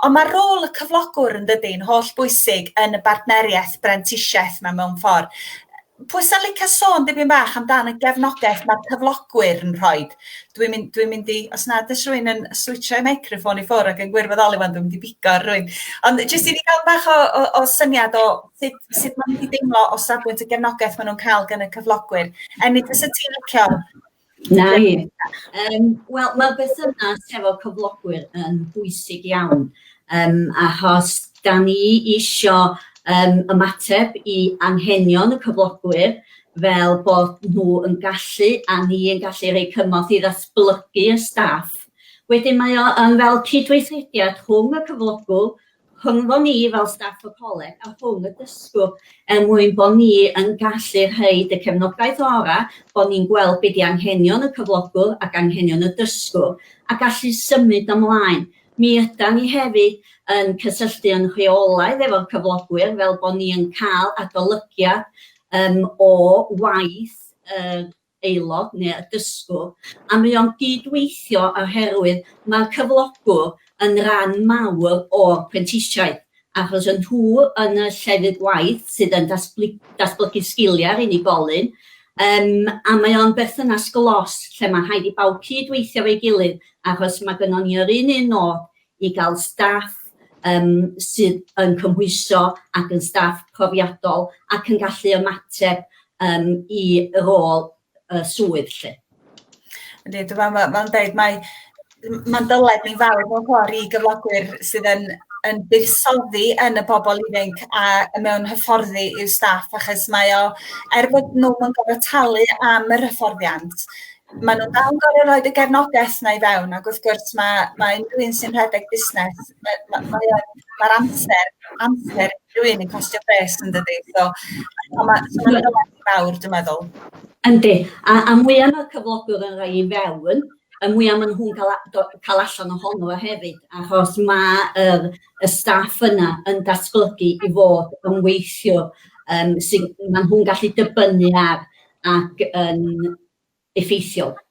Ond mae rôl y cyflogwr yn dydy, yn holl bwysig yn y bartneriaeth brentisiaeth yma mewn ffordd. Pwy sy'n licio sôn dipyn bach amdan y gefnogaeth mae'r cyflogwyr yn rhoi? Dwi'n mynd, dwi mynd i, os nad ys rwy'n yn switcho ei meicroffon i ffwrdd ac yn gwirfoddoli fan, dwi'n mynd i bigo rwy'n. Ond jyst i ni gael bach o, o, o syniad o sut, sut maen nhw wedi deimlo o safbwynt y gefnogaeth maen nhw'n cael gan y cyflogwyr. Enid, fysa ti'n licio Na i. Um, Wel, mae berthynas hefo cyflogwyr yn bwysig iawn, um, achos da ni eisiau um, ymateb i anghenion y cyflogwyr fel bod nhw yn gallu a ni yn gallu rhoi cymorth i ddatblygu y staff. Wedyn mae o yn fel cydweithrediad rhwng y cyflogwr rhyngddon ni fel staff y coleg a rhwng y dysgwr er mwyn bod ni yn gallu rhoid y cefnogaeth orau, bod ni'n gweld be di anghenion y cyflogwr ac anghenion y dysgwr a gallu symud ymlaen. Mi ydan ni hefyd yn cysylltu yn rheolaidd efo'r cyflogwyr fel bod ni yn cael adolygiad yym o waith yr aelod neu y dysgwr, a mae o'n gyd-weithio oherwydd mae'r cyflogwr yn ran mawr o'r prentisiaeth achos y nhw yn y llefydd gwaith sydd yn datblygu sgiliau'r unigolyn yym a mae o'n berthynas glos lle mae'n rhaid i bawb cyd-weithio efo'i gilydd achos mae gynnon ni yr un un nod i gael staff yym sydd yn cymhwyso ac yn staff profiadol ac yn gallu ymateb yym i rôl y swydd 'lly. Yndi, dwi me'wl ma' ma'n deud mae m- ma'n dyled ni'n fawr mewn ffor i gyflogwyr sydd yn yn buddsoddi yn y bobol ifanc a y mewn hyfforddi i'w staff achos mae o er bod nw'm yn gorfod talu am yr hyfforddiant Maen nhw'n dal yn gorfod rhoid y gefnogaeth 'na i fewn ac wrth gwrs ma' ma' unrhyw un sy'n rhedeg busnes yy ma' mae o ma'r amser amser unrhyw un yn costio pres yndydi? So a ma' so ma' hwnna'n werth fawr dwi'n meddwl. Yndi a a mwya ma'r cyflogwr yn rhoi i fewn y mwya ma' nhw'n ca'l a- do- ca'l allan ohono fo hefyd achos ma' yr y staff yna yn datblygu i fod yn weithiwr yym sydd... Maen nhw'n gallu dibynnu ar ac yn effeithiol